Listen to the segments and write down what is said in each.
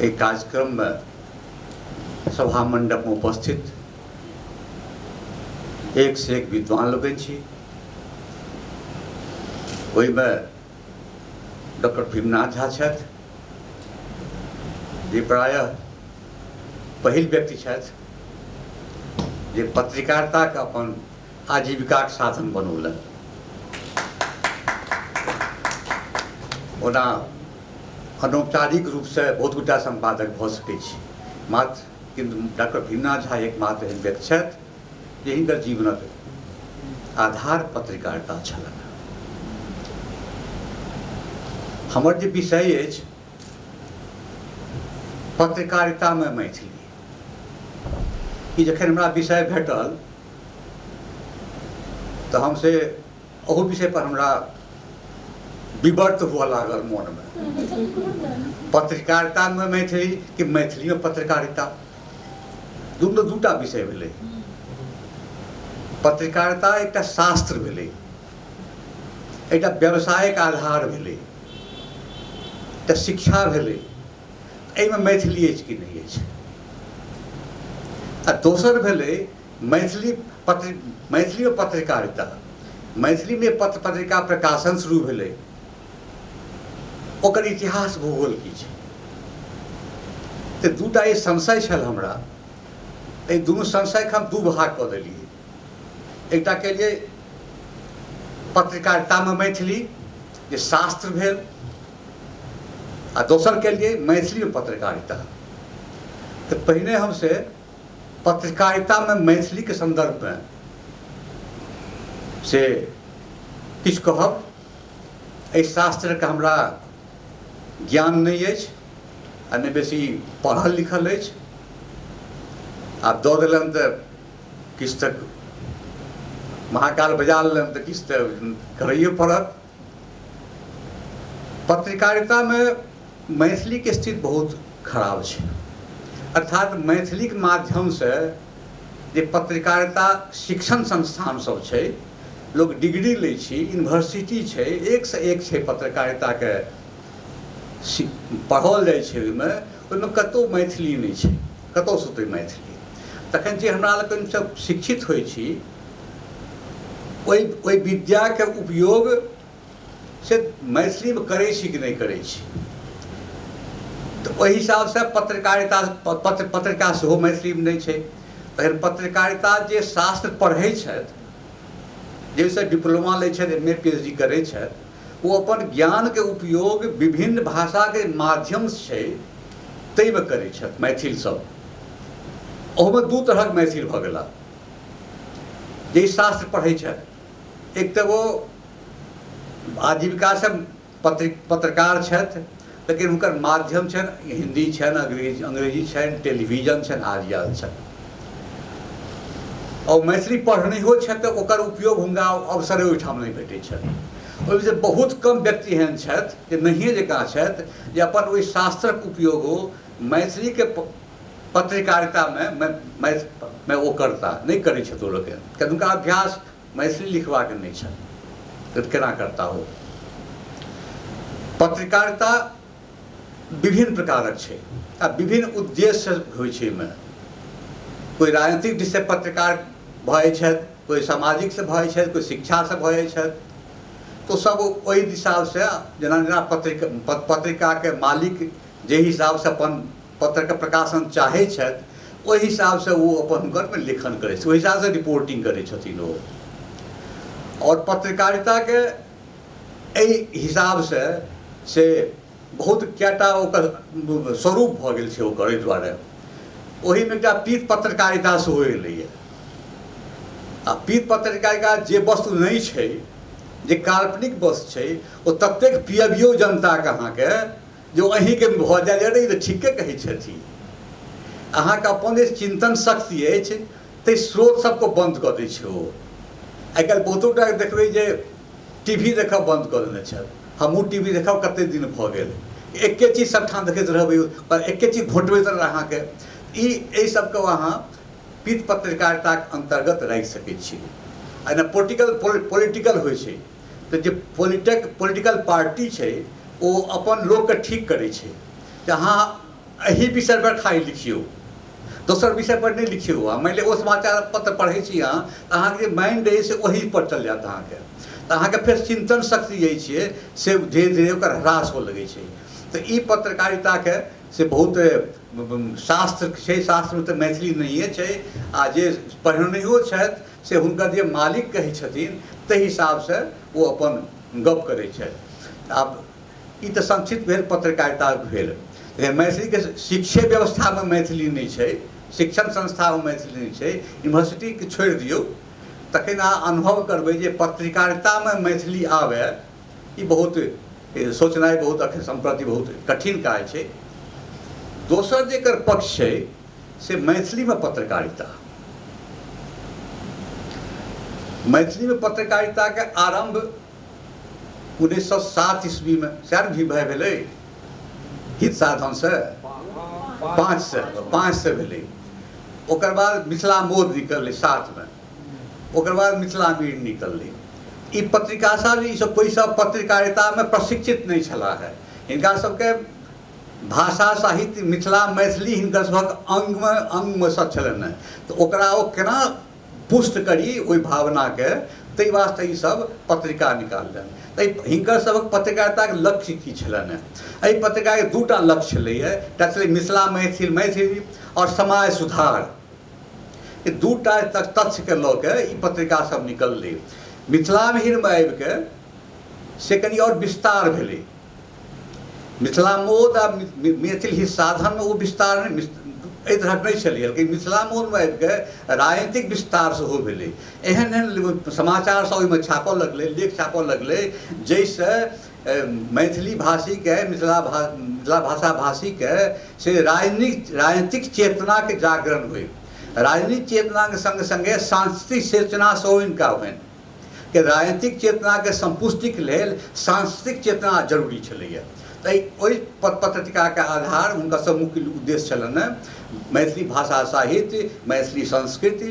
एहि कार्यक्रममे सभा मण्डपमे उपस्थित एक से एक विद्वान लोकनि छी ओहिमे डॉक्टर भीमनाथ झा छथि जे प्रायः पहिल व्यक्ति छथि जे पत्रकारिताके अपन आजीविकाक साधन बनौलनि ओना अनौपचारिक रूपसँ बहुत गोटा सम्पादक भऽ सकै छी मात्र किन्तु डॉक्टर भीमनाथ झा एकमात्र एहन व्यक्ति छथि जे हिनकर जीवनक आधार पत्रकारिता छलनि हमर जे विषय अछि पत्रकारितामे मैथिली ई जखन हमरा विषय भेटल तऽ हम से ओहो विषयपर हमरा विवर्त हुअ लागल मोनमे पत्रकारितामे मैथिली कि मैथिलीमे पत्रकारिता दुनू दूटा विषय भेलै पत्रकारिता एकटा शास्त्र भेलै एकटा व्यावसायिक आधार भेलै एकटा शिक्षा भेलै एहिमे मैथिली अछि कि नहि अछि आ दोसर भेलै मैथिली पत्र मैथिलियो पत्रकारिता मैथिलीमे पत्र पत्रिका प्रकाशन शुरू भेलै ओकर इतिहास भूगोल की छै तऽ दूटा ई संशय छल हमरा एहि दुनू संशयके हम दू भाग कऽ देलियै एकटा केलियै पत्रकारितामे मैथिली जे शास्त्र भेल आ दोसर केलियै मैथिलीमे पत्रकारिता तऽ पहिने हम से पत्रकारितामे मैथिलीके सन्दर्भमे से किछु कहब एहि शास्त्रके हमरा ज्ञान नहि अछि आ नहि बेसी पढ़ल लिखल अछि आ दऽ देलनि तऽ किछु तऽ महाकाल बजा लेलनि तऽ किछु तऽ करैए पड़त पत्रकारिता में मैथिली के स्थिति बहुत खराब छै अर्थात मैथिली के माध्यम से जे पत्रकारिता शिक्षण संस्थान सब छै लोग डिग्री लै छी यूनिवर्सिटी छै एक से एक छै पत्रकारिता के पढ़ल जाइ छै ओहिमे ओहिमे कतहु मैथिली नहि छै कतहुसँ ओतय मैथिली तखन जे हमरा लोकनि सब शिक्षित होइ छी ओहि ओहि विद्याके उपयोग से मैथिलीमे करै छी कि नहि करै छी तऽ ओहि हिसाबसँ पत्रकारिता पत्र पत्रिका सेहो मैथिलीमे नहि छै तखन पत्रकारिता जे शास्त्र पढ़ै छथि जाहिसँ डिप्लोमा लै छथि M A P H D करै छथि ओ अपन ज्ञानके उपयोग विभिन्न भाषाके माध्यम छै ताहिमे करै छथि मैथिल सब ओहूमे दू तरहक मैथिल भऽ गेला जे शास्त्र पढ़ै छथि एक तऽ ओ आजीविकासँ पत्र पत्रकार छथि लेकिन हुनकर माध्यम छनि हिन्दी छनि अंग्रेजी अंग्रेजी छनि टेलीविजन छनि आदि आदि छनि आओर मैथिली पढ़निहो छथि तऽ ओकर उपयोग हुनका अवसरे ओहिठाम नहि भेटै छनि ओहिमे जे बहुत कम व्यक्ति एहन छथि जे नहिए जकाँ छथि जे अपन ओहि शास्त्रक उपयोग ओ मैथिलीके पत्रकारितामे मे ओ करता नहि करै छथि ओ लोक एहन किएक हुनका अभ्यास मैथिली लिखबाके नहि छनि तऽ केना करता ओ पत्रकारिता विभिन्न प्रकारक छै आ विभिन्न उद्देश्य होइ छै एहिमे कोइ राजनीतिक दिशसँ पत्रकार भऽ जाइ छथि कोइ सामाजिकसँ भऽ जाइ छथि कोइ शिक्षासँ भऽ जाइ छथि तऽ सभ ओहि हिसाबसँ जेना जेना पत्रिका पत्रिकाके मालिक जे हिसाबसँ अपन पत्रके प्रकाशन चाहै छथि ओहि हिसाबसँ ओ अपन हुनकर लेखन करै छथि ओहि हिसाबसँ रिपोर्टिंग करै छथिन ओ आओर पत्रकारिताके एहि हिसाबसँ से बहुत कएटा ओकर स्वरूप भऽ गेल छै ओकर एहि दुआरे ओहिमे एकटा पीत पत्रकारिता सेहो एलैए आ पीत पत्रकारिता जे वस्तु नहि छै जे काल्पनिक वस्तु छै ओ ततेक पियबियो जनताके अहाँके जो अही के भऽ जाय अरे ई तऽ ठीके कहै छथि अहाँके अपन जे चिन्तन शक्ति अछि ताहि स्रोत सबके बन्द कऽ दै छै ओ आइ काल्हि बहुतो टा देखबै जे टी वी देखब बन्द कऽ देने छथि हमहूँ टी वी देखब कते दिन भऽ गेल एके चीज सबठाम देखैत रहबै पर एके चीज घोटबैत रहबै अहाँके ई एहि सबके अहाँ पीठ पत्रकारिताके अन्तर्गत राखि सकै छी एहिमे पोलिटिकल पोलिटिकल होइ छै तऽ जे पोलिटक पोलिटिकल पार्टी छै ओ अपन लोकके ठीक करै छै तऽ अहाँ एहि विषयपर खाली लिखियौ दोसर विषयपर नहि लिखियौ अहाँ मानि लिअ ओ समाचार पत्र पढ़ै छी अहाँ तऽ अहाँके जे माइंड अइ से ओहीपर चलि जायत अहाँके तऽ अहाँके फेर चिन्तन शक्ति जे छै से धीरे धीरे ओकर ह्रास हो लगै छै तऽ ई पत्रकारिताके से बहुत शास्त्र छै शास्त्रमे तऽ मैथिली नहिए छै आ जे पढ़नैयो छथि से हुनकर जे मालिक कहै छथिन ताहि हिसाबसँ ओ अपन गप करै छथि आब ई तऽ संक्षिप्त भेल पत्रकारिता भेल मैथिलीके शिक्षे व्यवस्थामे मैथिली नहि छै शिक्षण संस्थामे मैथिली नहि छै यूनिवर्सिटीके छोड़ि दियौ तखन अहाँ अनुभव करबै जे पत्रकारितामे मैथिली आबए ई बहुत सोचनाइ बहुत एखन सम्प्रति बहुत कठिन काज छै दोसर जेकर पक्ष छै से मैथिलीमे पत्रकारिता मैथिलीमे पत्रकारिताके आरम्भ उन्नैस सए सात ईस्वीमे सएह भी भाय भेलै हित साधनसँ पाँच सए पाँच सए भेलै ओकर बाद मिथिला मोद निकललै सातमे ओकर बाद मिथिला मीर निकललै ई पत्रिका सब ई सब कोइ सब पत्रकारितामे प्रशिक्षित नहि छलाह हिनका सबके भाषा साहित्य मिथिला मैथिली हिनकर सभक अङ्गमे अङ्गमे सभ छलनि हेँ तऽ ओकरा ओ केना पुष्ट करी ओहि भावनाके ताहि वास्ते ई सभ पत्रिका निकाललनि तऽ हिनकर सभक पत्रकारिताक लक्ष्य की छलनि हेँ एहि पत्रिकाके दू टा लक्ष्य छलैए एकटा छलै मिथिला मैथिल मैथिली आओर समाज सुधार ई दू टा तथ्यके लऽ कऽ ई पत्रिका सभ निकललै मिथिलामे आबिके से कनि आओर विस्तार भेलै मिथिला मोद आ मैथिल ही साधन ओ विस्तार एहि तरहक नहि छलै लेकिन मिथिला मोदमे आबिके राजनीतिक विस्तार सेहो भेलै एहन एहन समाचार सब ओहिमे छापऽ लगलै लेख छापऽ लगलै जाहिसँ मैथिली भाषीके मिथिला भा मिथिला भाषा भाषीके से राजनीतिक राजनीतिक चेतनाके जागरण होइ राजनीतिक चेतनाके सङ्गे सङ्गे सांस्कृतिक चेतना सेहो हिनका होनि के राजनीतिक चेतनाके सम्पुष्टिक लेल सांस्कृतिक चेतना जरूरी छलैए ताहि ओहि पत्रकारिताके आधार हुनका सब मुख्य उद्देश्य छलनि मैथिली भाषा साहित्य मैथिली संस्कृति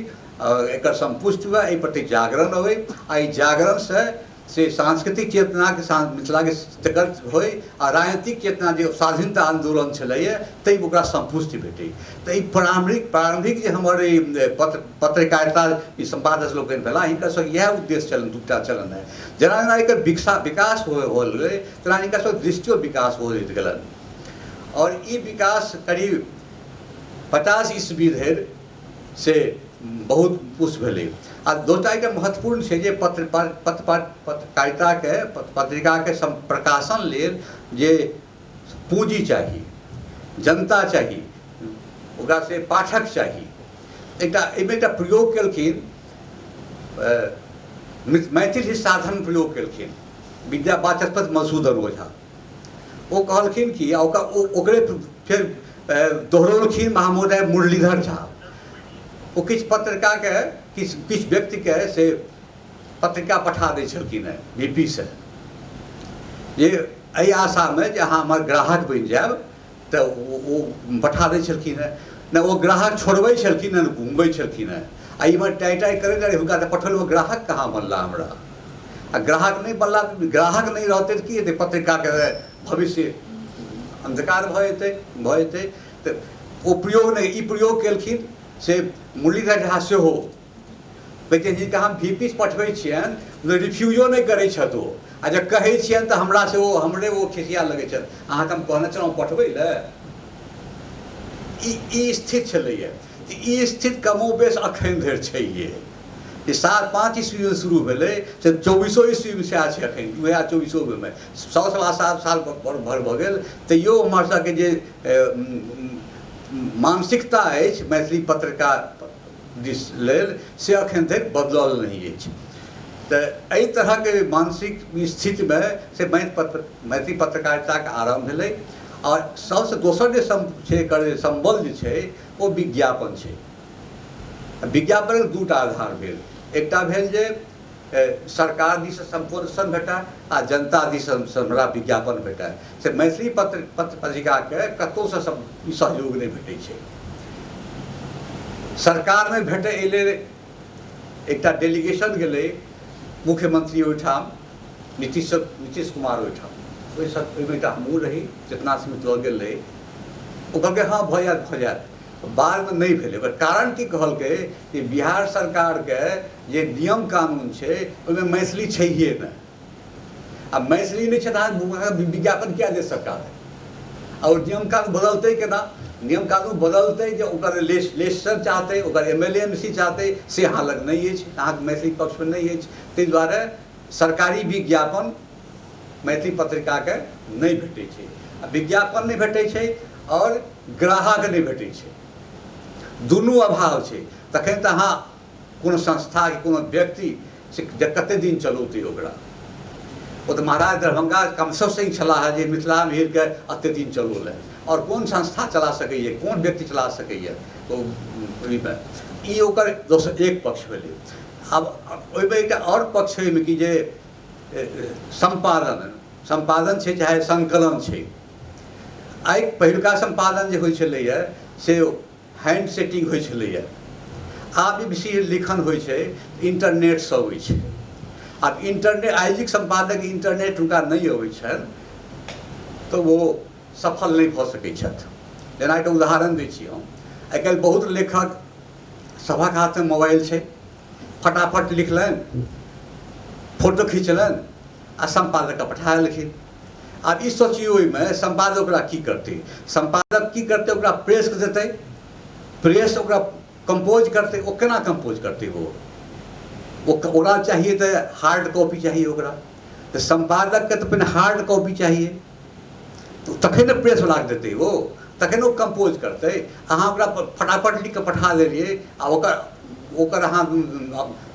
एकर सम्पुष्ट हुए एहि प्रति जागरण अबै आ एहि जागरणसँ से सांस्कृतिक चेतनाके साथ मिथिलाके तकर होइ आ राजनीतिक चेतना जे स्वाधीनता आन्दोलन छलैए ताहि ओकरा सम्पुष्टि भेटै तऽ ई प्रारम्भिक प्रारम्भिक जे हमर ई पत्र पत्रकारिता ई सम्पादक लोकनि भेला हिनका सब इएह उद्देश्य छलनि दूटा छलनि है जेना जेना एकर विकसा विकास हो होल गेलै तेना हिनका सब दृष्टियो विकास हो होइत गेलनि आओर ई विकास करीब पचास ईस्वी धरि से बहुत पुष्ट भेलै आ दोसर एकटा महत्वपूर्ण छै जे पत्र पत्र पत्रकारिताके पत्रिकाके प्रकाशन लेल जे पूँजी चाही जनता चाही ओकरा से पाठक चाही एकटा एहिमे एकटा प्रयोग केलखिन मैथिल ही साधन प्रयोग केलखिन विद्या वाचस्पति मधुसूदन ओझा ओ कहलखिन कि ओकरे फेर दोहरौलखिन महामोदय मुरलीधर झा ओ किछु पत्रकारके किछु किछु व्यक्तिके से पत्रिका पठा दै छलखिन हेँ बी पी सँ जे एहि आशामे जे अहाँ हमर ग्राहक बनि जायब तऽ ओ ओ पठा दै छलखिन हेँ ने ओ ग्राहक छोड़बै छलखिन हेँ ने घुमबै छलखिन हेँ आ इमहर टाइ टाइ करैत रहै हुनका तऽ पठल ओ ग्राहक कहाँ बनला हमरा आ ग्राहक नहि बनला ग्राहक नहि रहतै तऽ की हेतै पत्रिकाके भविष्य अन्धकार भऽ जेतै भऽ जेतै तऽ ओ प्रयोग नहि ई प्रयोग केलखिन से मुरलीधर झा सेहो लेकिन हिनका हम भी पीस पठबै छियनि मतलब रिफ्यूजो नहि करै छथि ओ आ जब कहै छियनि तऽ हमरा से ओ हमरे ओ खिसिया लगै छथि अहाँके हम कहने छलहुँ पठबै लए ई स्थित छलैए ई स्थित कमो बेस अखन धरि छैहे जे सात पाँच ईस्वीमे शुरू भेलै से चौबीसो ईस्वीमे सएह छै एखन दू हजार चौबीसोमे सौ सवा सात साल भर भऽ गेल तैयो हमरसभके जे मानसिकता अछि मैथिली पत्रकार दिस लेल से अखन तक बदलल नहि अछि तऽ एहि तरहके मानसिक स्थितिमे से मैथिली पत्रकारिताके आरम्भ भेलै आओर सभसँ दोसर जे छै एकर जे सम्बल जे छै ओ विज्ञापन छै विज्ञापनके दू टा आधार भेल एकटा भेल जे सरकार दिस सम्पूर्ण सन भेटए आ जनता दिस हमरा विज्ञापन भेटए से मैथिली पत्र पत्र पत्रिकाके कतहुसँ सहयोग नहि भेटै छै सरकारमे भेटै एहि लेल एकटा डेलीगेशन गेलै मुख्यमंत्री ओहिठाम नीतीश नीतीश कुमार ओहिठाम ओहि सब ओहिमे एकटा हमहूँ रही चेतना समिति लऽ गेल रही ओ कहलकै हँ भऽ जायत भऽ जायत बादमे नहि भेलै ओकर कारण की कहलकै कि बिहार सरकारके जे नियम कानून छै ओहिमे मैथिली छैहे नहि आ मैथिली नहि छै तऽ अहाँ विज्ञापन किया दे सकता है आ ओ नियम कानून बदलतै केना नियम कानून बदलतै जे ओकर लेस लेसर चाहतै ओकर एम एल एम सी चाहतै से अहाँ लग नहि अछि अहाँके मैथिली पक्षमे नहि अछि ताहि दुआरे सरकारी विज्ञापन मैथिली पत्रिकाके नहि भेटै छै आ विज्ञापन नहि भेटै छै आओर ग्राहक नहि भेटै छै दुनू अभाव छै तखन तऽ अहाँ कोनो संस्था कि कोनो व्यक्ति से कतेक दिन चलौतै ओकरा ओ तऽ महाराज दरभंगा कमसँ सिंह छलाह जे मिथिला मीरके एतेक दिन चलौलनि आओर कोन संस्था चला सकैए कोन व्यक्ति चला सकैए ओ ओहिमे ई ओकर दोसर एक पक्ष भेलै आब ओहिमे एकटा आओर पक्ष ओहिमे कि जे सम्पादन सम्पादन छै चाहे संकलन छै आइ पहिलुका सम्पादन जे होइ छलैए से हैंड सेटिंग होइ छलैए आब जे बेसी लिखन होइ छै इन्टरनेटसँ अबै छै आब इन्टरनेट आइजिक सम्पादक इन्टरनेट हुनका नहि अबै छनि तऽ ओ सफल नहि भऽ सकै छथि जेना एकटा उदाहरण दै छी हम आइ काल्हि बहुत लेखक सभक हाथमे मोबाइल छै फटाफट लिखलनि फोटो खिचलनि आ सम्पादककेँ पठा देलखिन आब ई सोचिए ओहिमे सम्पादक ओकरा की करतै सम्पादक की करतै ओकरा प्रेस देतै प्रेस ओकरा कम्पोज करतै ओ केना कम्पोज करतै ओ ओकरा चाहिए तऽ हार्ड कॉपी चाहिए ओकरा तऽ सम्पादकके तऽ पहिने हार्ड कॉपी चाहिए तऽ तखन ने प्रेस लाग देतै ओ तखन ओ कम्पोज करतै अहाँ ओकरा फटाफट लिख कऽ पठा देलियै आ ओकर ओकर अहाँ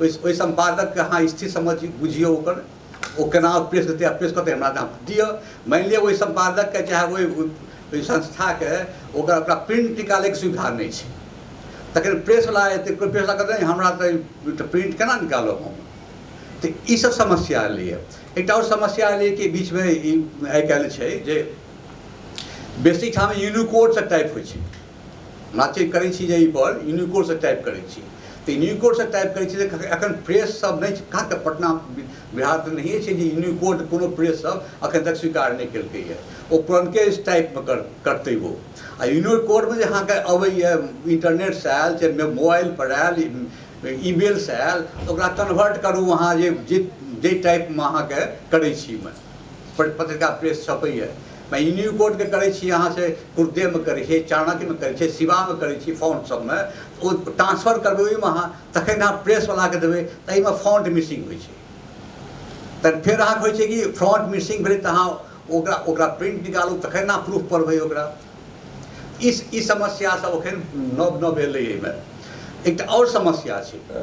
ओहि सम्पादकके अहाँ स्थिति समझ बुझियौ ओकर ओ केना अप्रेस हेतै अप्रेस कतै हमरा नाम दिअ मानि लिअ ओहि सम्पादकके चाहे ओहि ओहि संस्थाके ओकर ओकरा प्रिंट निकालैके सुविधा नहि छै तखन प्रेसवला एतै कोइ प्रेसवला कहतै नहि हमरा तऽ प्रिंट केना निकालब हम तऽ ईसभ समस्या एलैए एकटा आओर समस्या एलैए कि बीचमे ई आइ काल्हि छै जे बेसी ठाम यूनिकोडसँ टाइप होइ छै माथि करै छी जे एहिपर यूनिकोडसँ टाइप करै छी तऽ यूनिकोडसँ टाइप करै छी तऽ एखन प्रेस सब नहि छै कहाँ तऽ पटना बिहार तऽ नहिए छै जे यूनिकोड कोनो प्रेस सब एखन तक स्वीकार नहि केलकैए ओ पुरनके टाइपमे कर करतै ओ आ यूनिकोडमे जे अहाँके अबैए इन्टरनेटसँ आयल चाहे मोबाइलपर आयल ईमेलसँ आयल तऽ ओकरा कन्वर्ट करू अहाँ जे जे जाहि टाइपमे अहाँके करै छी ओहिमे पत्रिका प्रेस छपैए मैं यूनिकोड के करे छी अहाँ से कुर्दे में करे छी चाणक्य में करे छी शिवा में करे छी फॉन्ट सब में ओ ट्रांसफर करबे ओहि में अहाँ तखन अहाँ प्रेस वाला के देबे त एहि में फॉन्ट मिसिंग होइ छै तखन फेर अहाँ होइ छै कि फॉन्ट मिसिंग भेलै तऽ अहाँ ओकरा ओकरा प्रिंट निकालू तखन अहाँ प्रूफ पढ़बै ओकरा ई ई समस्या सब एखन नव नव एलै एहिमे एकटा आओर समस्या छै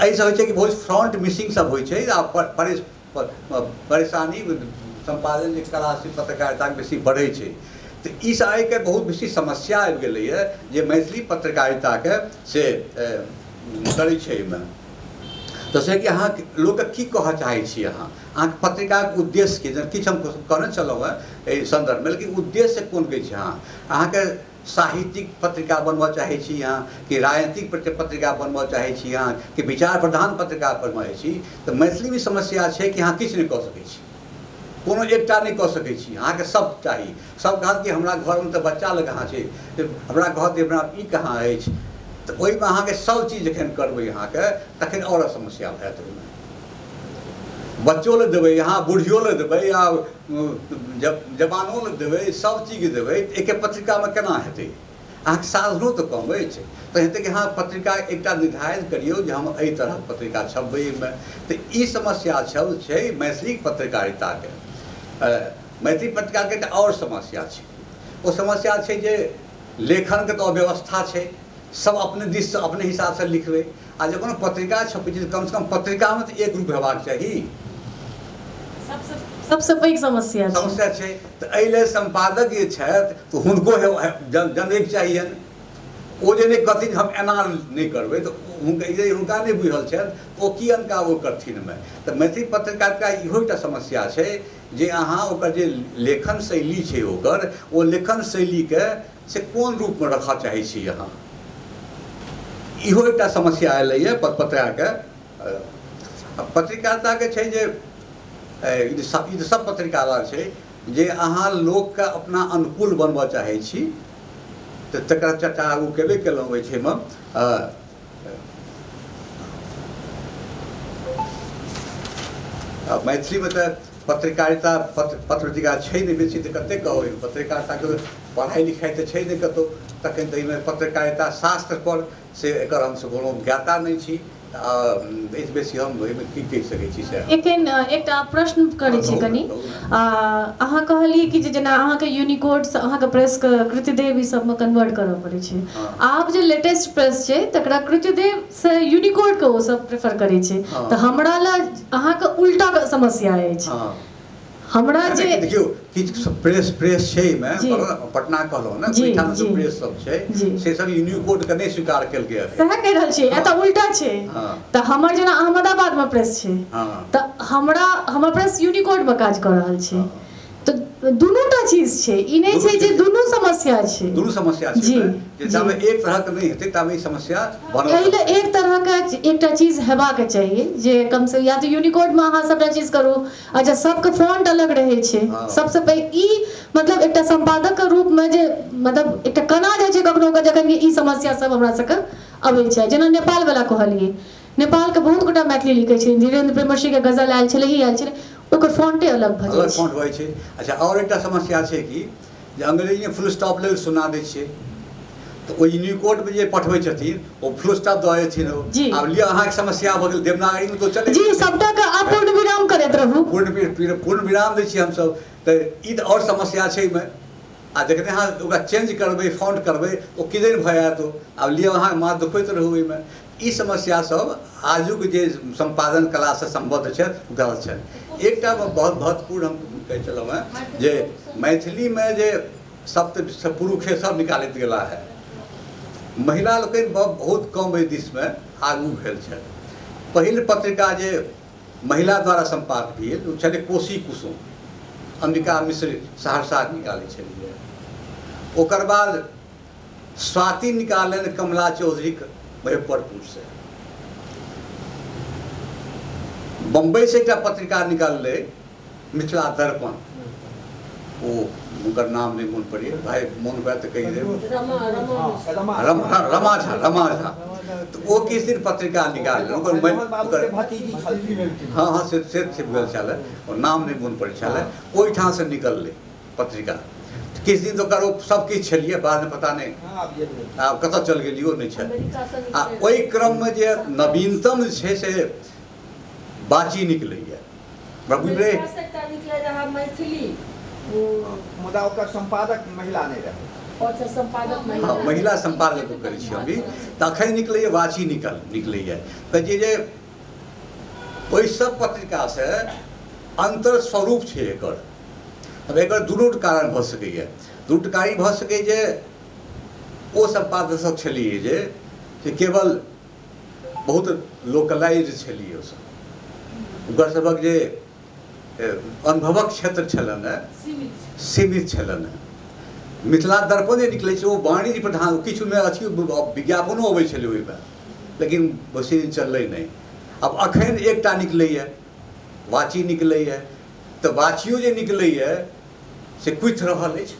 एहिसँ होइ छै कि बहुत फ्रॉन्ट मिसिंग सब होइ छै आ परेशानी सम्पादन जे कला से पत्रकारिता बेसी बढ़ै छै तऽ ई सब आइके बहुत बेसी समस्या आबि गेलैया जे मैथिली पत्रकारिताके से करै छै एहिमे तऽ से कि अहाँ लोकके की कहऽ चाहै छी अहाँ अहाँके पत्रिकाके उद्देश्य की किछु हम कहने छलहुँ हँ एहि सन्दर्भमे लेकिन उद्देश्य कोन कहै छी अहाँ अहाँके साहित्यिक पत्रिका बनबऽ चाहै छी अहाँ कि राजनीतिक पत्रिका बनबऽ चाहै छी अहाँ कि विचार प्रधान पत्रिका बनबऽ चाहै छी तऽ मैथिलीमे समस्या छै कि अहाँ किछु नहि कऽ सकै छी कोनो एकटा नहि कऽ सकै छी अहाँके सब चाही सब कहत कि हमरा घरमे तऽ बच्चा लग अहाँ छै हमरा कहत कि हमरा ई कहाँ अछि तऽ ओहिमे अहाँके सब चीज जखन करबै अहाँके तखन आओर समस्या भए जायत ओहिमे बच्चो लए देबै अहाँ बुढ़ियो लए देबै आ जब जवानो लए देबै सब चीज देबै एके पत्रिकामे केना हेतै अहाँके साधनो तऽ कम अछि तऽ हेतै कि अहाँ पत्रिका एकटा निर्धारित करियौ जे हम एहि तरहक पत्रिका छपबै एहिमे तऽ ई समस्या छल छै मैथिली पत्रकारिताके मैथिली पत्रकारके एकटा आओर समस्या छै ओ समस्या छै जे लेखनके तऽ अव्यवस्था छै सब अपने दिससँ अपने हिसाबसँ लिखबै आ जे कोनो पत्रिका छपै छै कमसँ कम पत्रिकामे तऽ एक रूप हेबाक चाही सबसँ पैघ समस्या समस्या छै तऽ एहि लेल सम्पादक जे छथि तऽ हुनको जनैके चाहियनि ओ जे नहि कहथिन हम एना नहि करबै तऽ हुनका जे हुनका नहि बुझल छनि ओ की अनका ओ करथिन मे तऽ मैथिली पत्रकारिता इहो एकटा समस्या छै जे अहाँ ओकर जे लेखन शैली छै ओकर ओ लेखन शैलीके से कोन रूपमे रखऽ चाहै छी अहाँ इहो एकटा समस्या अयलैए पत्रकारके आ पत्रकारिताके छै जे ई तऽ सब ई तऽ सब पत्रकारक छै जे अहाँ लोकके अपना अनुकूल बनबऽ चाहै छी तऽ तकरा चर्चा आगू केबे केलहुँ ओहि छै मे आ मैथिलीमे तऽ पत्रकारिता पत्र पत्रपत्रिका छै नहि बेसी तऽ कतेक कहबै पत्रकारिताके पढ़ाइ लिखाइ तऽ छै नहि कतहु तखन तऽ एहिमे पत्रकारिता शास्त्रपर से एकर हमसभ कोनो ज्ञाता नहि छी आ एहिसँ बेसी हम एहिमे की कहि सकै छी से एखन एकटा प्रश्न करै छी कनि आ अहाँ कहलियै कि जे जेना अहाँके यूनिकोड्स अहाँके प्रेसके कृतिदेव ई सबमे कन्वर्ट करऽ पड़ै छै हँ। आब जे लेटेस्ट प्रेस छै तकरा कृतिदेव से यूनिकोड के ओ सब प्रेफर करै छै हँ। तऽ हमरा लए अहाँके उल्टा के समस्या अछि हँ हमरा नहि, जे नहि, देखियौ किछु प्रेस प्रेस छै एहिमे जी। कहलहुँ ने, पटना कहलहुँ ने जी, ओहिठाम जी। जे प्रेस सब छै जी। से सब यूनिकोड के नहि स्वीकार केलकै अभी सएह कहि रहल छियै एतऽ उल्टा छै हँ। तऽ हमर जेना अहमदाबादमे प्रेस छै हँ तऽ हमरा हमर प्रेस यूनिकोडमे काज कऽ रहल छै तऽ दुनूटा चीज छै ई नहि छै जे दुनू समस्या छै दुनू समस्या छै जी, जे जी। जाबे एक तरहक नहि हेतै ताबे ई समस्या बनल एहि लए रहतै। एक तरहके एकटा चीज हेबाक चाहिए जे कम से या तऽ यूनिकोडमे अहाँ सभटा चीज करू अच्छा सबके फॉन्ट अलग रहै छै हँ। सबसँ पैघ ई मतलब एकटा सम्पादक के रूपमे जे मतलब एकटा कना जाइ छै कखनो कऽ जखन कि ई समस्या सब हमरा सबके अबै छै जेना नेपाल वला कहलियै नेपालके बहुत गोटा मैथिली लिखै छथिन धीरेन्द्र प्रेमर्षिके गजल आयल छलै ही आयल छलै ओकर फॉन्टे अलग भऽ जाइ छै भऽ छै अच्छा आओर एकटा समस्या छै कि जे अंग्रेजीमे फुल स्टॉप लेल सुना दै छियै तऽ ओ यूनिकोडमे जे पठबै छथिन ओ फुल स्टॉप दऽ देथिन ओ आब लिअ अहाँके समस्या भऽ गेल देवनागरीमे तऽ चलै जी सबटा के आप पूर्ण विराम करैत रहू पूर्ण पूर्ण विराम दै छियै हमसब तऽ ई तऽ आओर समस्या छै एहिमे आ जखने अहाँ ओकरा चेंज करबै फाउंड करबै ओ किदन भऽ जायत ओ आब लिअ अहाँ माथ दुखबैत रहू ओहिमे ई समस्या सब आजुक जे सम्पादन कलासँ सम्बद्ध छथि हुनका लग छनि एकटा बहुत महत्वपूर्ण हम कहै छलहुँ हेँ जे मैथिलीमे जे सप्त पुरुषे सब निकालैत गेला है महिला लोकनि बहुत कम एहि दिसमे आगू भेल छथि पहिल पत्रिका जे महिला द्वारा सम्पाद भेल ओ छलै कोशी कुसुम अम्बिका मिश्र सहरसा निकालै छलियै ओकर बाद स्वाति निकाललनि कमला चौधरीक मुजफ्फरपुरसँ। बम्बइसँ एकटा पत्रिका निकाललै मिथिला दर्पण। ओ हुनकर नाम नहि मोन पड़ैए भाय मोन हुए तऽ कहि देब रमा झा रमा झा तऽ ओ किछु दिन पत्रिका निकाललै ओकर हँ हँ से से भेल छलै ओ नाम नहि मोन पड़ै छलै ओहिठामसँ निकललै पत्रिका तऽ किछु दिन तऽ ओकर ओ सभकिछु छलियै बादमे पता नहि आब कतऽ चलि गेलियै ओ नहि छल आ ओहि क्रममे जे नवीनतम जे छै से बाची निकलैए हमरा बुझि रहे एकरासँ एकटा निकलै रहए मैथिली ओ मुदा ओकर सम्पादक महिला नहि रहै अच्छा सम्पादक हँ महिला महिला सम्पादक करै छी अभी तऽ अखन निकलैए वाची निकल निकलैए तऽ जे जे ओहि सब पत्रिका से अंतर स्वरूप छै एकर अब एकर दुनू कारण भऽ सकैए दू कारी भऽ सकै जे ओ सम्पादक छलिए जे से केवल बहुत लोकलाइज छलिए ओसब ओकर सबके जे अनुभवक क्षेत्र छलनि हेँ सीमित छलनि हेँ मिथिला दर्पण जे निकलै छै ओ वाणिज्य प्रधान किछुमे अथी विज्ञापनो अबै छलै ओहिमे लेकिन वैसे चललै नहि आब एखन एकटा निकलैए वाची निकलैए तऽ वाचियो जे निकलैए से कुथि रहल अछि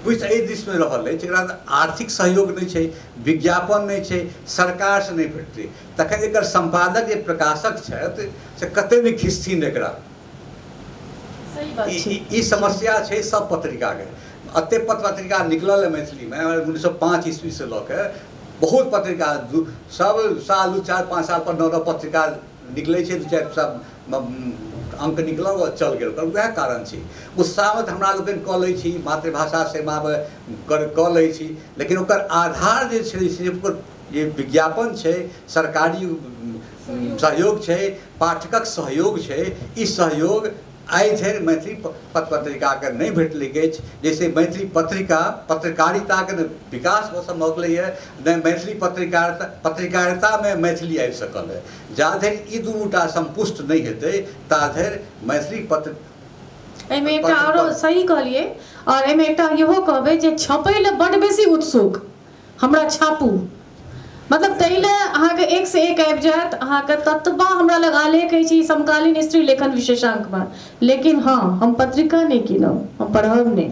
कुथि एहि दिसमे रहल अछि एकरा तऽ आर्थिक सहयोग नहि छै विज्ञापन नहि छै सरकारसँ नहि भेटतै तखन एकर सम्पादक जे प्रकाशक छथि से कतेक नहि खिसथिन एकरा ई समस्या छै सब पत्रिकाके एतेक पत्रिका निकलल है मैथिलीमे उन्नैस सए पाँच ईस्वीसँ लऽ के बहुत पत्रिका सब साल दू चारि पाँच साल पर नौ नौ पत्रिका निकलै छै तऽ चारि सात अंक निकलल आओर चल गेल ओकर वएह कारण छै उत्साह तऽ हमरा लोकनि कऽ लै छी मातृभाषा सेवा कर कऽ लै छी लेकिन ओकर आधार जे छै से ओकर जे विज्ञापन छै सरकारी सहयोग छै पाठकक सहयोग छै ई सहयोग आइ धरि मैथिली पत्र पत्रिकाके नहि भेटलै अछि जाहिसँ मैथिली पत्रिका पत्रकारिताके ने विकास हो सम्भव भेलैए नहि मैथिली पत्रकारिता पत्रकारितामे मैथिली आबि सकल है जा धरि ई दुनूटा संपुष्ट नहि हेतै ता धरि मैथिली पत्र एहिमे एकटा आरो सही कहलियै आओर एहिमे एकटा इहो कहबै जे छपै लए बड्ड बेसी उत्सुक हमरा छापू मतलब ताहि लए अहाँके एक से एक आबि जायत अहाँके ततबा हमरा लग आलेख अछि ई समकालीन स्त्री लेखन विशेषांकमे लेकिन हँ हम पत्रिका नहि कीनब हम पढ़ब नहि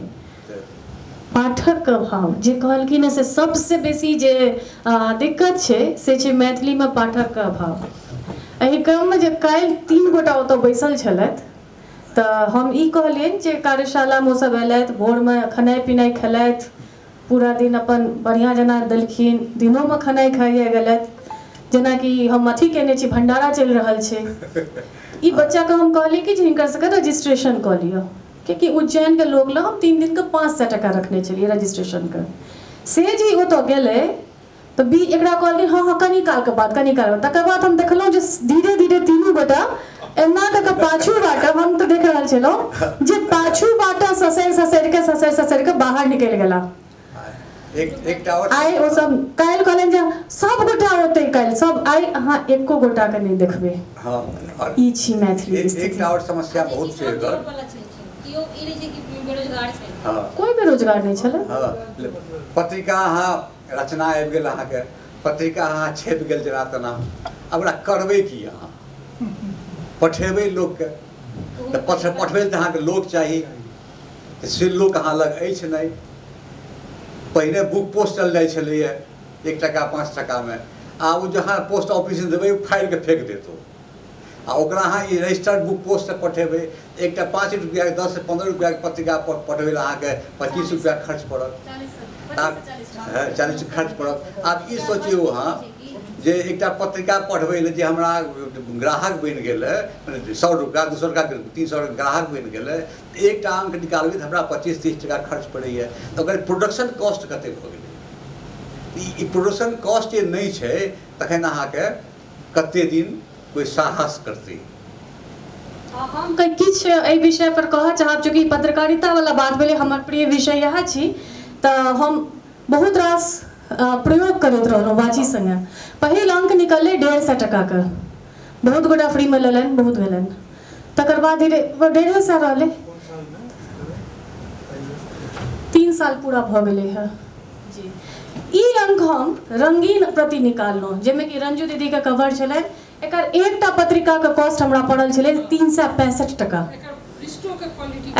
पाठकके भाव जे कहलखिन हेँ से सभसँ बेसी जे आ, दिक्कत छै से छै मैथिलीमे पाठकके अभाव एहि क्रममे जे काल्हि तीन गोटा ओतऽ बैसल छलथि तऽ हम ई कहलियनि जे कार्यशालामे ओसभ अयलथि भोरमे खेनाइ पिनाइ खेलथि पूरा दिन अपन बढ़िया जेना देलखिन दिनो में खनाई खाइए गेलथि जेना कि हम अथी केने छी भंडारा चलि रहल छै ई बच्चा के हम कहली कि जे हिनकर सबके रजिस्ट्रेशन कऽ लिअ कियाकि उज्जैन के लोग लए हम तीन दिन के पाँच सए टाका रखने छलियै रजिस्ट्रेशन के से जे ओतऽ गेलै तऽ बी एकरा कहलियै हँ हँ कनी कालके बाद कनी काल बाद तकर बाद हम देखलहुँ जे धीरे धीरे तीनू गोटा एना कऽ कऽ पाछू बाटा हम तऽ देख रहल छलहुँ जे पाछू बाटा ससरि ससरि कऽ ससरि ससरि कऽ बाहर निकलि गेला आइ ओ सब काल्हि कहलनि जे सब गोटा ओतै काल्हि सब आइ अहाँ एको गोटा के नहि देखबै हँ ई छी मैथिली एकटा आओर समस्या बहुत छै एकर केओ ई नहि छै कि बेरोजगार छै कोई बेरोजगार नहीं छल पत्रिका अहाँ रचना आबि गेल अहाँके पत्रिका अहाँ छपि गेल जेना तेना आब ओकरा करबै की अहाँ पठेबै लोकके तऽ पठ पठबै तऽ अहाँके लोक चाही तऽ से लोक अहाँ लग अछि नहि पहिने बुक पोस्ट चल जाइ छलैए एक टाका पाँच टाकामे आब ओ जहाँ पोस्ट ऑफिस देबै ओ फाड़ि कऽ फेंक देत ओ आ ओकरा अहाँ ई रजिस्टर्ड बुक पोस्टसँ पठेबै तऽ एकटा पाँच रुपैआके दससँ पन्द्रह रुपैआके पत्रिका पठबै लए अहाँके पच्चीस रुपैआ खर्च पड़त चालीस खर्च पड़त आब ई सोचियौ अहाँ जे एकटा पत्रिका पढ़बै लए जे हमरा ग्राहक बनि गेल मने सए रुपैआ दू सए रुपैआ तीन सए ग्राहक बनि गेल एकटा अंक निकालबै तऽ हमरा पच्चीस तीस टाका खर्च पड़ैए तऽ ओकर प्रोडक्शन कॉस्ट कतेक भऽ गेलै ई प्रोडक्शन कॉस्ट जे नहि छै तखन अहाँके कते दिन कोई साहस करते हम कहीं किछ एहि विषय पर कहऽ चाहब चूँकि पत्रकारिता वाला बात भेलै हमर प्रिय विषय इएह छी तऽ हम बहुत रास अ, प्रयोग करैत रहलहुँ वाची संगे पहिल अंक निकललै डेढ़ सए टकाके बहुत गोटा फ्रीमे लेलनि बहुत भेलनि तकर बाद धीरे ओ डेढ़े सए रहलै तीन साल पूरा भऽ गेलै हँ जी ई अंक हम रंगीन प्रति निकाललहुँ जाहिमे कि रंजू दीदीके कवर छलै एकर एकटा पत्रिकाके कॉस्ट हमरा पड़ल छलै तीन सए पैंसठि टाका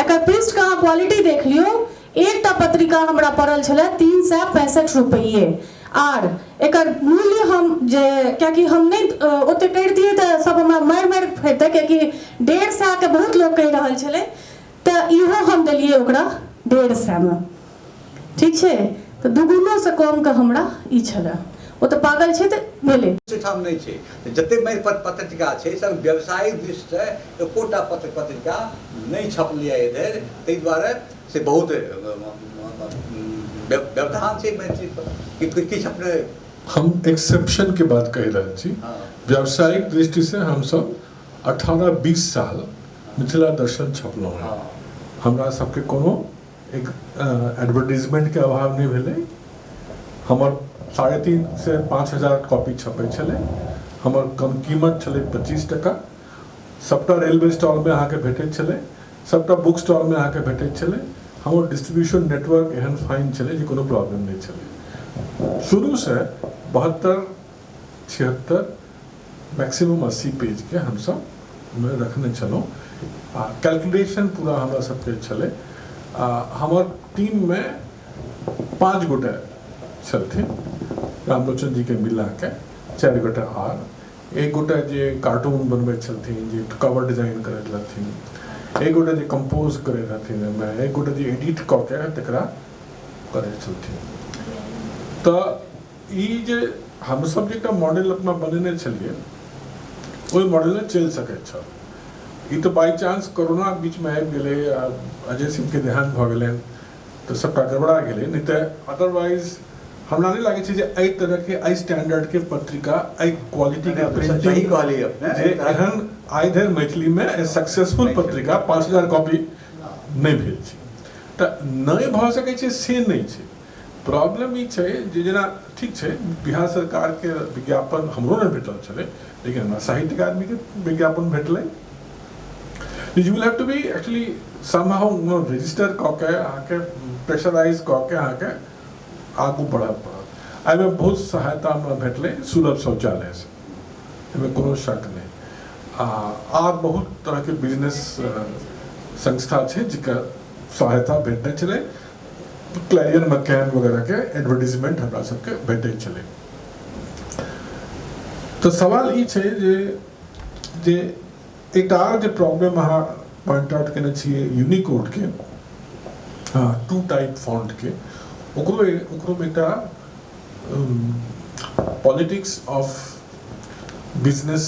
एकर पृष्ठके अहाँ क्वालिटी देख लियौ एकटा पत्रिका हमरा पड़ल छलै तीन सए पैंसठि रुपैए आर एकर मूल्य हम जे कियाकि हम नहि ओतेक करितियै तऽ सभ हमरा मारि मारि फेरतै कियाकि डेढ़ सएके बहुत लोक कहि रहल छलै तऽ इहो हम देलियै ओकरा डेढ़ सएमे ठीक छै तऽ दुगुनो सँ कम के हमरा ई छले। ओ तऽ पागल छै तऽ भेलै। ओहि ठाम नहि छै तऽ जते मारि पत्र पत्रिका छै से व्यवसायिक दृष्टि से एकोटा पत्र पत्रिका नहि छपलै आइ धरि ताहि दुआरे से बहुत व्यवधान छै मैथिली पर कि किछु अपने हम एक्सेप्शन के बात कहि रहल छी हँ व्यावसायिक दृष्टि से हम सब 18 20 साल मिथिला दर्शन छपलहुँ हँ हँ हमरा सबके कोनो एक एडवर्टीजमेंटके अभाव नहि भेलै हमर साढ़े तीन से पाँच हजार कॉपी छपै छलै हमर कम कीमत छलै पच्चीस टका सभटा रेलवे स्टॉलमे अहाँके भेटैत छलै सभटा बुक स्टॉलमे अहाँके भेटैत छलै हमर डिस्ट्रीब्यूशन नेटवर्क एहन फाइन छलै जे कोनो प्रॉब्लम नहि छलै शुरूसँ बहत्तर छिहत्तर मैक्सिमम अस्सी पेजके हमसब ओहिमे रखने छलहुँ आ कैलकुलेशन पूरा हमरा सबके छलै आ हमर टीममे पाँच गोटे छलथिन रामलोचन जीके मिलाके चारि गोटे आर एक गोटे जे कार्टून बनबै छलथिन जे कवर डिजाइन करै रहथिन एक गोटे जे कम्पोज करै रहथिन ओहिमे एक गोटे जे एडिट कऽ के तकरा करै छलथिन तऽ ई जे हमसभ जे एकटा मॉडल अपना बनेने छलियै ओहि मॉडलमे चलि सकैत छल ई तऽ बाई चांस कोरोना बीचमे आबि गेलै आ अजय सिंहके देहान भऽ गेलनि तऽ सभटा गड़बड़ा गेलै नहि तऽ अदरवाइज हमरा नहि लागै छै जे एहि तरहके एहि स्टैंडर्डके पत्रिका एहि क्वालिटीके प्रिंटिंग कहली जे एहन आइ धरि मैथिलीमे सक्सेसफुल पत्रिका पाँच हजार कॉपी नहि भेल छै तऽ नहि भऽ सकै छै से नहि छै प्रॉब्लम ई छै जे जेना ठीक छै बिहार सरकारके विज्ञापन हमरो नहि भेटल छलै लेकिन हमरा साहित्य अकादमीके विज्ञापन भेटलै you will have to be actually somehow register कऽ के अहाँके प्रेशराइज कऽ के अहाँके आगू बढ़ऽ पड़त एहिमे बहुत सहायता हमरा भेटलै सुलभ शौचालयसँ एहिमे कोनो शक नहि आ आर बहुत तरहके बिजनेस संस्था छै जकर सहायता भेटने छलै क्लाइजन मकैन वगैरह के एडवर्टीजमेंट हमरा सबके भेटै छलै तऽ सवाल ई छै जे जे एकटा आओर जे प्रॉब्लम अहाँ पॉइंट आउट केने छियै यूनिकोड के हाँ टू टाइप फॉन्ट के ओकरो ओकरो में एकटा पॉलिटिक्स ऑफ बिजनेस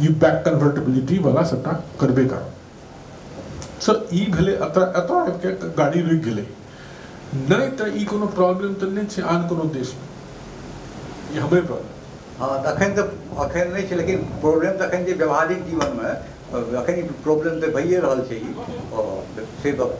ई बैक कन्वर्टेबिलिटी वाला सबटा करबे करब सो ई भेलै एतऽ एतऽ आबिके गाड़ी रुकि गेलै नहि तऽ ई कोनो प्रॉब्लम तऽ नहि छै आन कोनो देशमे ई हमरे प्रॉब्लम हँ तखन तऽ अखन नहि छै लेकिन प्रॉब्लम तऽ अखन जे व्यवहारिक जीवनमे अखन प्रॉब्लम तऽ भइए रहल छै ई से गप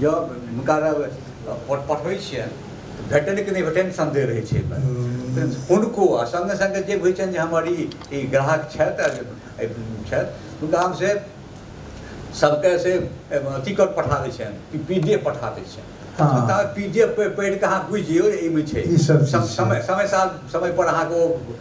जब हुनका पठबै छियनि तऽ भेटनि कि नहि भेटनि सन्देह रहै छै हुनको आ सङ्गे सङ्गे जे होइ छनि जे हमर ई ग्राहक छथि छथि हुनका हम से सभके से अथी कर पठा दै छियनि पी डी एफ पठा दै छियनि पी डी एफ पढ़ि कऽ अहाँ बुझि जइयौ एहिमे छै समय समय साल समयपर अहाँके ओ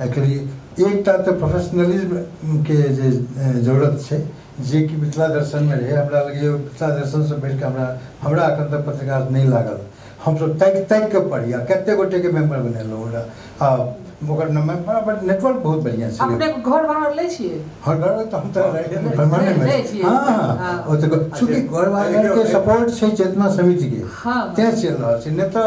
एकर एकटा तऽ प्रोफेशनलिज्मके जे जरूरत छै जेकि मिथिला दर्शनमे रहै हमरा लगैए मिथिला दर्शनसँ बढ़िकऽ हमरा हमरा एखन तक पत्रकार नहि लागल हमसब ताकि ताकिकऽ पढ़ी आओर कतेक गोटेके मेम्बर बनेलहुँ ओकरा आओर ओकर नाममे बड़ा बड़ा नेटवर्क बहुत बढ़िआँ छै अपने घर भाड़ा लै छिए हर घर तऽ हम तऽ परमानेंट छी हँ हँ ओ तऽ चूँकि घर भाड़ाके सपोर्ट छै चेतना समितिके तेँ चलि रहल छै नहि तऽ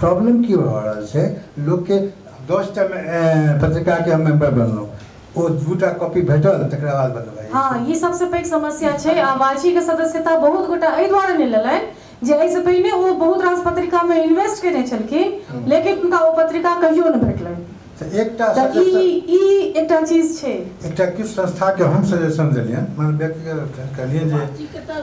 प्रॉब्लम की भऽ रहल छै लोकके दस टा पत्रिकाके हम मेम्बर बनलहुँ ओ दूटा कॉपी भेटल तकरा बाद बनबै हँ ई सबसँ पैघ समस्या छै आ वाचीके सदस्यता बहुत गोटा एहि दुआरे नहि लेलनि जे एहिसँ पहिने ओ बहुत रास पत्रिकामे इन्वेस्ट केने छलखिन हम्म। लेकिन हुनका ओ पत्रिका कहियो नहि भेटलनि तऽ एकटा ई ई एकटा चीज छै एकटा किछु संस्थाके हम सजेशन देलियनि मतलब व्यक्तिगत कहलियनि जे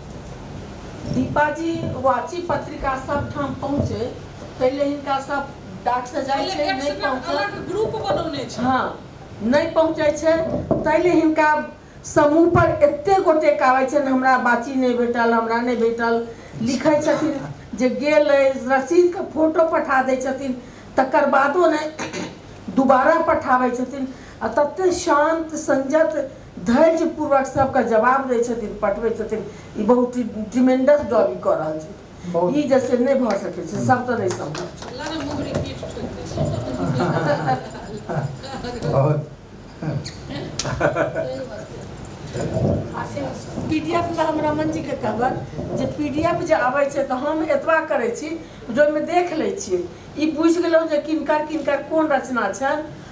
दीपाजी वाची पत्रिका सब ठाम पहुँचे पहिले हिनका सब डाक से जाय छै नहीं पहुँचे ग्रुप बनौने छै हाँ नहीं पहुँचे छै तैले हिनका समूह पर एते गोटे कावे छै हमरा बाची नहीं भेटल हमरा नहीं भेटल लिखे छथिन जे गेल रसीद के फोटो पठा दे छथिन तकर बादो नहीं दोबारा पठावे छथिन आ तते शांत संजत धैर्य पूर्वक सबके जवाब दै छथिन पठबै छथिन ई बहुत ट्रिमेंडस जॉब ई कऽ रहल छै बहुत। ई जैसे नहि भऽ सकै छै सब तऽ नहि संभव छै लगा मुहरी पीठ ठोक दे छै बहुत पीडीएफ लए हम रमन जी के कहबन जे पीडीएफ जे अबै छै तऽ हम एतबा करै छी जे ओहिमे देख लै छियै ई बुझि गेलहुँ जे किनकर किनकर कोन रचना छनि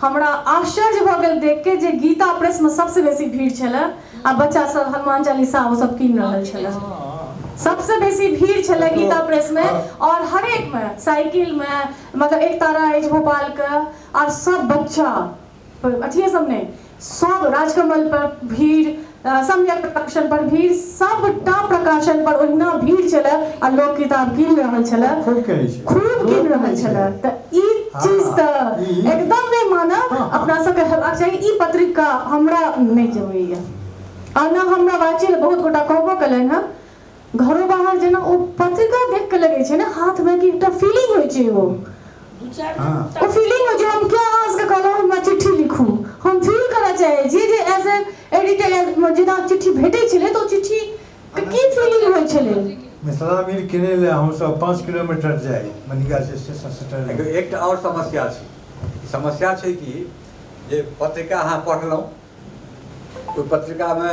हमरा आश्चर्य भऽ गेल देख के जे गीता प्रेस में सबसे बेसी भीड़ छलै आ बच्चा सब हनुमान चालीसा ओ सब कीन रहल छलै सबसे बेसी भीड़ छलै गीता प्रेस में और हर एक में साइकिल में मतलब एक तारा अछि भोपाल के और सब बच्चा अथिये सब नहीं सब राजकमल पर भीड़ सम्यक प्रकाशन पर भीड़ सबटा प्रकाशन पर ओहिना भीड़ छलै आ लोक किताब कीन रहल छलै खूब कहै छै खूब कीन रहल छलै तऽ ई चीज तऽ एकदम नहि मानब अपना सबके हेबाक चाही ई पत्रिका हमरा नहि जमैया आ ने हमरा वाचिल बहुत गोटा कहबो कयलनि हँ घरो बाहर जेना ओ पत्रिका देख के लगे छै ना हाथ में कि एकटा फीलिंग होय छै ओ ओ फीलिंग हो जे हम क्या आवाज के कहलो हमरा चिट्ठी लिखू हम फील करऽ चाहे जे जे एज ए एडिटर जेना चिट्ठी भेटै छलै तऽ ओ चिट्ठी के की फीलिंग होय छलै मिथिला मीर किने ले हम सब पाँच किलोमीटर जाए मनिका से स्टेशन से ट्रेन देखियौ एकटा आओर समस्या छै समस्या छै कि जे पत्रिका अहाँ पढ़लहुँ ओहि पत्रिकामे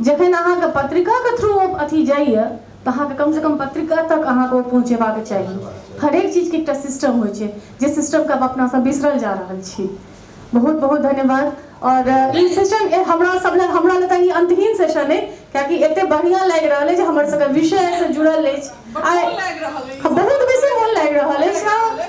जखन अहाँके पत्रिका के थ्रू ओ अथी जाइए तऽ अहाँके कम से कम पत्रिका तक अहाँके ओ पहुँचेबाक चाही हरेक चीजके एकटा सिस्टम होइ छै जे सिस्टमके आब अपना सब बिसरल जा रहल छी बहुत बहुत धन्यवाद और ई सेशन हमरा सब लग हमरा लग ई अंतहीन सेशन अइ कियाकि एते बढ़िया लागि रहल अछि हमर सबके विषय से जुड़ल अछि बहुत बेसी मोन लागि रहल अछि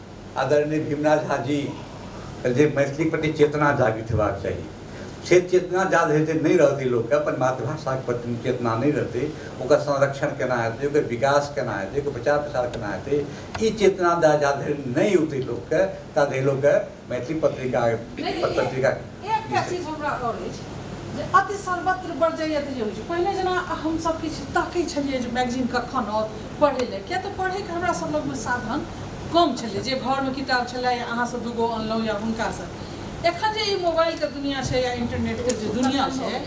आदरणीय भीमनाथ झा जी जे मैथिली प्रति चेतना जागृत हेबाक चाही से चेतना जा हेतै नहि रहतै लोकके अपन मातृभाषाके प्रति चेतना नहि रहतै ओकर संरक्षण केना हेतै ओकर विकास केना हेतै ओकर प्रचार प्रसार केना हेतै ई चेतना जा धरि नहि औतै लोकके ता धरि लोकके मैथिली पत्रिका पत्रिका एकटा चीज हमरा आओर अछि जे अति सर्वत्र बरजैया तऽ जे होइ छै पहिने जेना हमसभ किछु ताकै छलियै जे मैगजीन कखन आओत पढ़ै लए किया तऽ पढ़ैके हमरा सभ लगमे साधन कम छलै जे घरमे किताब छलै या अहाँसँ दूगो अनलहुँ या हुनकासँ एखन जे ई मोबाइलके दुनिया छै या इंटरनेटके जे दुनिया छै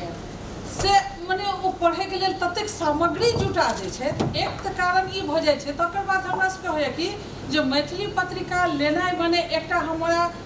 से मने ओ पढ़ैके लेल ततेक सामग्री जुटा दै छै एक तऽ कारण ई भऽ जाइ छै तकर बाद हमरा सभके होइए कि जे मैथिली पत्रिका लेनाइ मने एकटा हमरा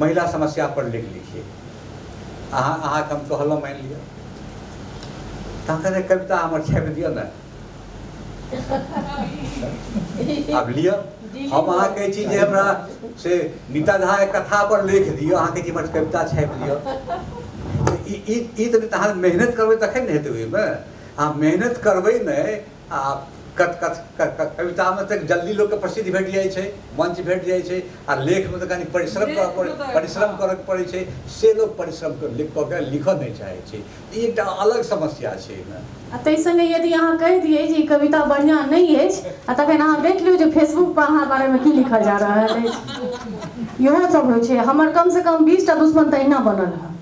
महिला समस्या पर लेख लिखिए अहाँ अहाँके हम कहलहुँ मानि लिअ तखन कविता हमर छापि दिअ ने आब लिअ हम अहाँ कहै छी जे हमरा से नीता झा कथा पर लेख दिअ अहाँ कहै छी हमर कविता छापि दिअ ई तऽ अहाँ मेहनत करबै तखन ने हेतै ओहिमे अहाँ मेहनत करबै नहि आ कथ कथ क- क- कवितामे तऽ जल्दी लोकके प्रसिद्धि भेट जाइ छै मंच भेट जाइ छै आ लेखमे तऽ कनि परिश्रम करऽ लेखमे पड़ै तऽ- परिश्रम करऽ पड़ै छै से लोक परिश्रम कऽ लिख कऽ के लिखऽ नहि चाहै छै ई एकटा अलग समस्या छै एहिमे आ ताहि संगे यदि अहाँ कहि दियै जे ई कविता बढ़िआँ नहि अछि आ तखन अहाँ देख लियौ जे फेसबुक पर अहाँ बारेमे की लिखल जा रहल अछि इहो सब होइ छै हमर कमसँ कम बीस टा दुश्मन तऽ अहिना बनल हँ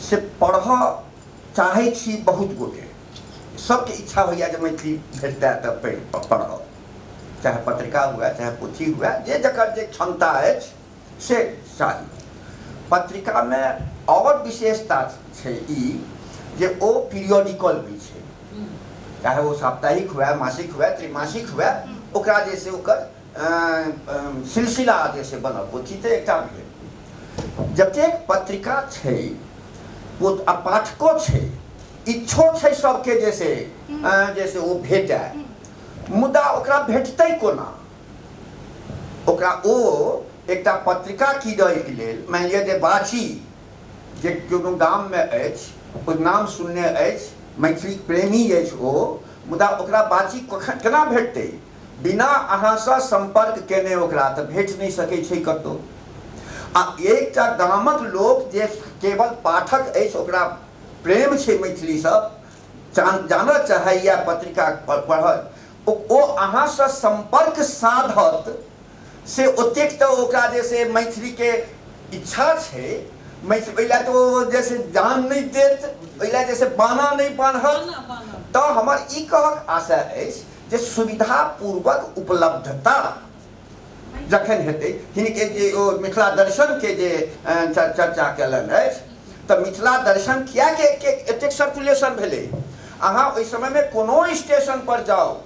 से पढ़ऽ चाहै छी बहुत गोटे सबके इच्छा होइए जे मैथिली भेटतै तऽ पढ़ि पढ़ब चाहे पत्रिका हुए चाहे पोथी हुए जे जकर जे क्षमता अछि से चाही पत्रिकामे आओर विशेषता छै ई जे ओ पीरियोडिकल होइ छै चाहे ओ साप्ताहिक हुए मासिक हुए त्रिमासिक हुए ओकरा जे छै ओकर सिलसिला जे छै बनल पोथी तऽ एकटा भेल जतेक पत्रिका छै आ पाठको छै इच्छो छै सबके जे से जे से ओ भेटै मुदा ओकरा भेटतै कोना ओकरा ओ एकटा पत्रिका किनैके लेल मानि लिअ जे बाछी जे कोनो गाममे अछि ओ नाम सुनने अछि मैथिली प्रेमी अछि ओ मुदा ओकरा बाछी कखन केना भेटतै बिना अहाँसँ सम्पर्क केने ओकरा तँ भेट नहि सकै छै कतौ। आ एकटा गामक लोक जे केवल पाठक अछि ओकरा प्रेम छै मैथिलीसँ, चान जानऽ चाहैए पत्रिका पढ़त ओ ओ अहाँसँ सम्पर्क साधत से ओतेक तँ ओकरा जे से मैथिलीके इच्छा छै मैथ ओहि लए तँ ओ जे से जान नहि देत ओहि लए जे से बान्हऽ नहि बान्हत। तँ हमर ई कहक आशय अछि। जे सुविधापूर्वक उपलब्धता जखन हेतै हिनके जे ओ मिथिला दर्शनके जे चर्चा कयलनि अछि तऽ मिथिला दर्शन किएक एतेक सर्कुलेशन भेलै अहाँ ओहि समयमे कोनो स्टेशन पर जाउ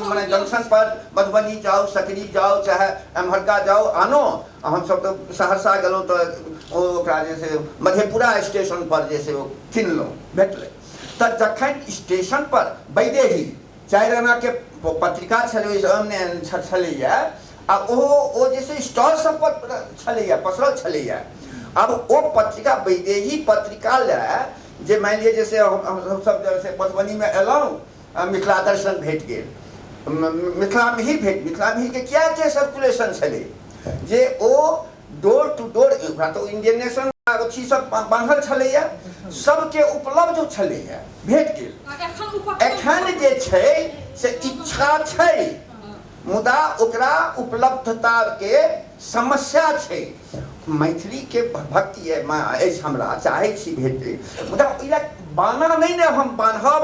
मने जंक्शन पर मधुबनी जाउ सकरी जाउ चाहे एम्हरका जाउ आनो हमसभ तऽ सहरसा गेलहुँ तऽ ओकरा जे छै मधेपुरा स्टेशन पर जे छै ओ किनलहुँ भेटलै तऽ जखन स्टेशन पर बैदेही चारि आना के पत्रिका छलै छलैया आ ओहो ओ जे छै स्टॉल सब पर छलैया पसरल छलैया अब ओ पत्रिका बैदेही पत्रिका ले जे मानि लिअ जे से हमसब जे से मधुबनी में एलहुँ आ मिथिला दर्शन भेट गेल मिथिला मिहिर भेट मिथिला मिहिर के किया एते सर्कुलेशन छलै जे ओ डोर टू डोर ओकरा तऽ इंडियन नेशन अथी सब बांधल छलैया सबके उपलब्ध छलैया भेट गेल एखन जे छै से इच्छा छै मुदा ओकरा उपलब्धता के समस्या छै मैथिली के भक्ति अछि हमरा चाहे छी भेट मुदा ओहि बाना नहि ने हम बान्हब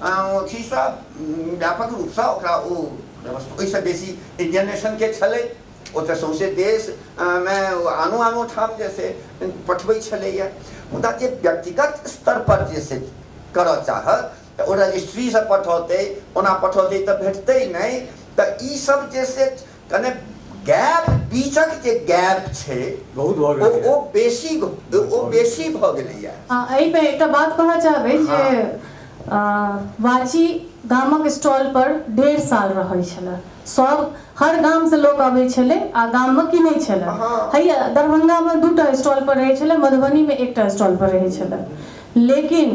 ओ अथी सँ व्यापक रूपसँ ओकरा ओ व्यवस्था ओहिसँ बेसी इण्डियन नेशनके छलै ओ तऽ सौँसे देशमे आनो आनो ठाम जे से पठबै छलैए मुदा जे व्यक्तिगत स्तरपर जे से करऽ चाहत तऽ ओ रजिस्ट्रीसँ पठौतै ओना पठौतै तऽ भेटतै नहि तऽ ईसब जे से कने गैप बीचक जे गैप छै बहुत भऽ गेल ओ ओ बेसी ओ बेसी भऽ गेलैया हां एहि पे एकटा बात कहना चाहबै जे हाँ। वाची गामक स्टॉल पर डेढ़ साल रहै छलै सब हर गाम से लोग अबै छलै आ गाम में किनै छलै हाँ। हैया दरभंगा में दूटा स्टॉल पर रहै छलै मधुबनी में एकटा स्टॉल पर रहै छलै लेकिन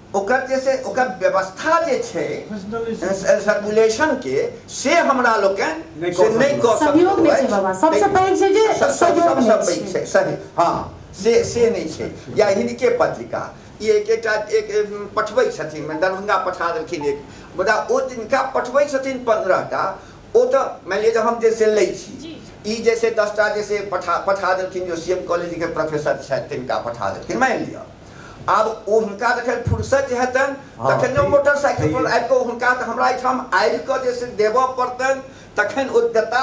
ओकर जे छै ओकर व्यवस्था जे छै सर्कुलेशन के से हमरा लोकनि से नहि कऽ सहयोग नहि छै बाबा सबसँ पैघ छै जे सहयोग सबसँ पैघ छै सही हँ से से नहि छै या हिनके पत्रिका ई एक एकटा एक पठबै छथिन दरभंगा पठा देलखिन एक मुदा ओ जिनका पठबै छथिन पन्द्रहटा ओ तऽ मानि लिअ जे हम जे से लै छी ई जैसे दसटा जैसे पठा पठा देलखिन जो सी एम कॉलेजके प्रोफेसर छथि तिनका पठा देलखिन मानि लिअ आब ओ हुनका जखन फुर्सत जे हेतनि हँ, तखन ओ ई- मोटरसाइकिल पर ई- आबि कऽ ओ हुनका तऽ हमरा एहिठाम आबि कऽ जे से देबऽ पड़तनि तखन ओ देता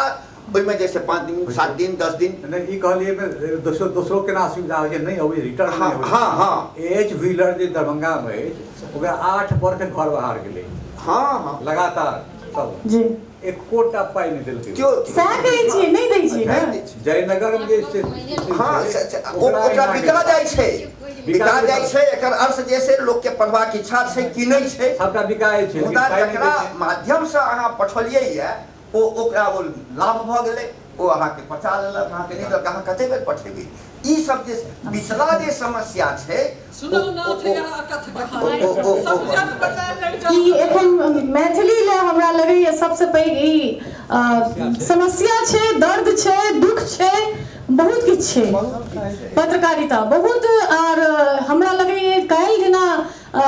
ओहिमे जे से पाँच दिन सात दिन दस दिन नहि ई कहलियै एहिमे दोसरो दोसरो केना असुविधा होइ छै नहि अबै रिटर्न हँ, नहि अबै हँ, हँ। एच व्हीलर जे दरभंगामे अछि ओकरा आठ वर्ष घर बाहर गेलै हँ हँ लगातार सब जी एकोटा पाइ नहि देलकै केओ सएह कहै छियै नहि दै छियै नहि ने दै छै। जयनगर मे जे छै हाँ, से- से- ओ- ओकरा बिका जाइ छै बिका जाइ छै एकर अर्थ जे छै लोकके पढ़बाक इच्छा छै कि नहि छै सबटा बिकाए छै मुदा पाइ नहि जकरा दै छै। माध्यमसँ अहाँ पठौलियै यए ओ ओकरा ओ लाभ भऽ गेलै ओ अहाँके पचा लेलक अहाँके नहि देलक अहाँ कतेक बेर पठेबै ई सब जे पिछला जे समस्या छै ई एखन मैथिली ले हमरा लगैए सबसँ पैघ ई अ, समस्या छै दर्द छै दुख छै बहुत किछु छै पत्रकारिता बहुत आर हमरा लगैए काल्हि जेना अ,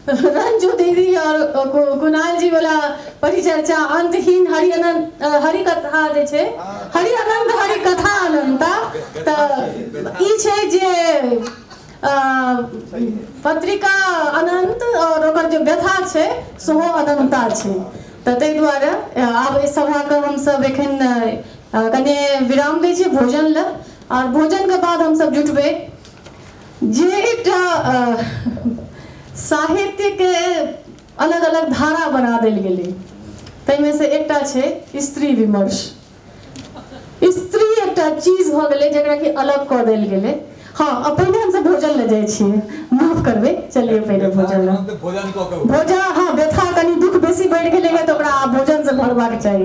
रंजू दीदी और कु- कुणाल जी वाला परिचर्चा अंतहीन हरि अनंत हरि कथा जे छै हरि अनंत हरि कथा अनंता तऽ ई छै जे पत्रिका अनन्त आओर ओकर जे व्यथा छै सेहो अनन्ता छै तऽ ताहि दुआरे आब एहि सभाके हमसभ एखन कनि विराम दै छी भोजन लए आओर भोजनके बाद हमसभ जुटबै जे एकटा साहित्यके अलग अलग धारा बना देल गेलै ताहिमे से एकटा छै स्त्री विमर्श स्त्री एकटा चीज भऽ गेलै जकरा कि अलग कऽ देल गेलै हँ आ पहिने हमसभ भोजन लए जाइ छियै माफ करबै चलिए पहिने भोजन लए भोजन कऽ कऽ भोजन हँ व्यथा कनि दुःख बेसी बढ़ि गेलै है तऽ ओकरा आब भोजनसँ भरबाक चाही